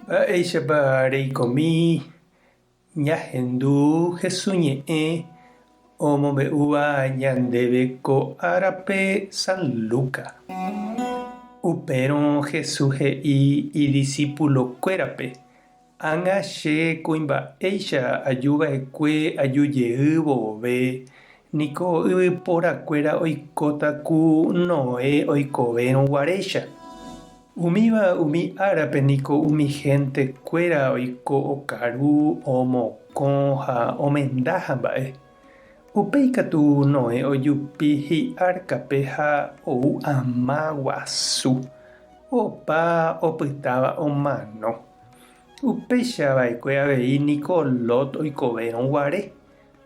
Mba'éichapa reikomi ñahendu Jesús ñe'ẽ omombe'úva ñandéve ko árape San Lucas? Upérõ Jesús he'i idisipulokuérape, Ág̃a che kuimba'éicha ajuva'ekue ajujeývo ove Niko yvyporakuéra oikóta ku Noé oikovérõ guaréicha. Umíva umi árape niko umi hénte kuéra oiko okaru, omokõ ha omenda hamba'e. Upéi katu Noé ojupi hi'árkape ha ou ama guasu, opa opytáva omano. Upéicha va'ekue avei niko Lot oikovérõ guare.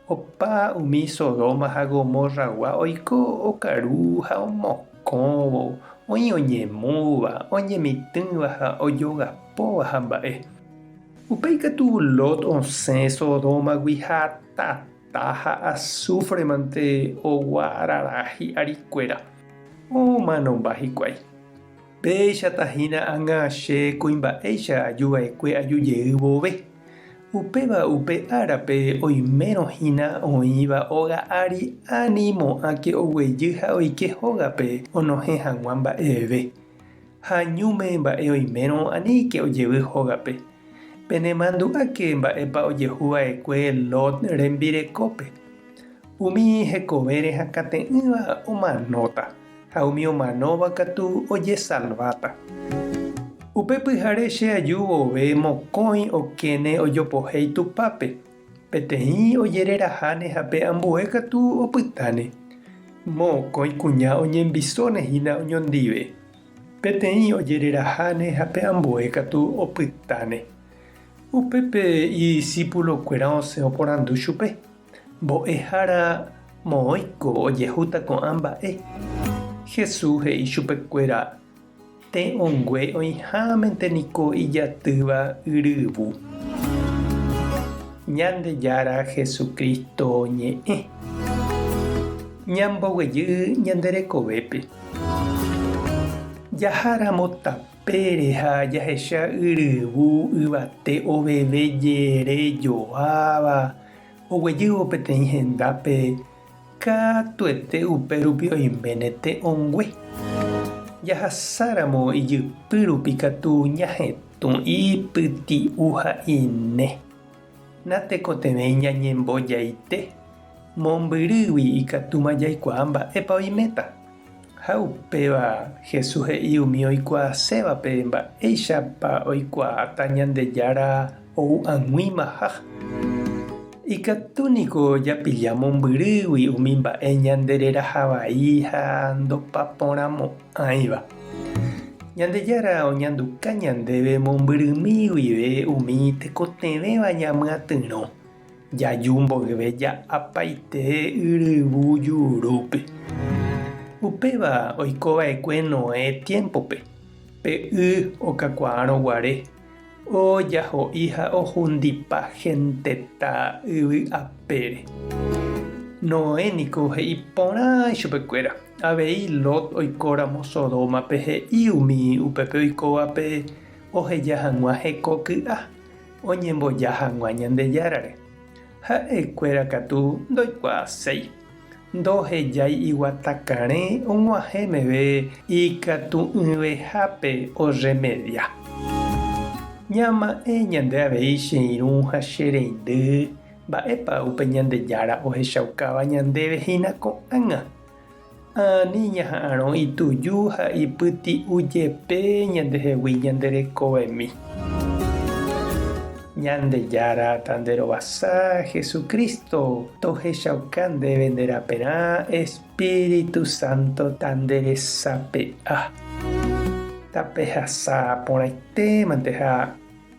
Opa umi Sodoma ha Gomorragua oiko okaru ha omokõvo, oĩ oñemúva, oñemitỹva ha ojogapóva hamba'e. Upéi katu Lot osẽ Sodómagui ha tata ha asúfremante ogua arara hi'arikuéra, omanomba hikuái. Péicha tahína ág̃a che kuimba'éicha aju va'ekue aju jey vove. Upéva upe árape oimérõ hína oĩva óga ári ani mo'ãke oguejy ha oike hógape onohẽ hag̃ua mba'eve. Ha ñúme mba'e oimérõ aníke ojevy hógape. Penemandu'áke mba'épa ojehu va'ekue Lot rembirekópe. Umi hekovére hakãte'ỹva omanóta. ha umi omanóva katu ojesalváta. Upe pyhare che aju vove mokõi okéne ojopohéi Tupãpe, peteĩ ojereraháne ha pe ambue katu opytáne. Mokõi kuña oñembisóne hína oñondive, peteĩ ojereraháne ha pe ambue katu opytáne. Upépe idisípulokuéra osẽ oporandu chupe. Mbo'ehára moõiko ojehúta ko'ã mba'e. Jesús he'i chupekuéra, Tẽ ongue oĩhámente niko ijatýva yryvu. Ñandejára Jesucristo ñe'ẽ. Ñamboguejy ñande rekovépe. Jaháramo tapére ha jahecha yryvu yvate oveve jere joáva, oguejývo peteĩ hendápe katuete upérupi oiméne te'õngue. Jahasáramo ijypy rupi katu ñahetũ ipyti'u ha ine. Natekotevẽi ñañembojaite, mombyrýgui ikatúma jaikuaa mba'épa oiméta. Ha upéva Jesús he'i umi oikuaasévape mba'éichapa oikuaáta Ñandejára ou ag̃uimaha. Ikatu niko japilla mombyrýgui umi mba'e ñandereraha vai ha ndopaporãmo'ãiva. Ñandejára oñanduka ñandéve mombyrymi guive umi tekotevẽva ñamyatyrõ. Jaju mboyve ja'apaite yryvu jurúpe. Upéva oiko va'ekue Noé tiémpope, pe y okakuaárõ guare, ojaho'i ha ohundipa hentetã yvy apére. Noé niko he'i porã ichupekuéra, avei Lot oikóramo Sodómape he'i umi upépe oikóvape oheja hag̃ua heko ky'a. Oñemboja hag̃ua Ñandejárare, ha'e kuéra katu ndoikuaaséi. Ndohejái iguata karẽ og̃uahẽ meve ikatu'ỹvehápe orremedia. Ñama'ẽ ñande avei che irũ ha che reindy, mba'épa upe Ñandejára ohechaukáva ñandéve hína ko'ág̃a? Ha ani ñaha'arõ ituju ha ipyti'u jepe ñandehegui ñanderekovemi. Ñandejára Tanderovasa Jesucristo, tohechauka ndéve nde raperã Espíritu Santo tanderesape'a. Tapehasa porãitémante ha.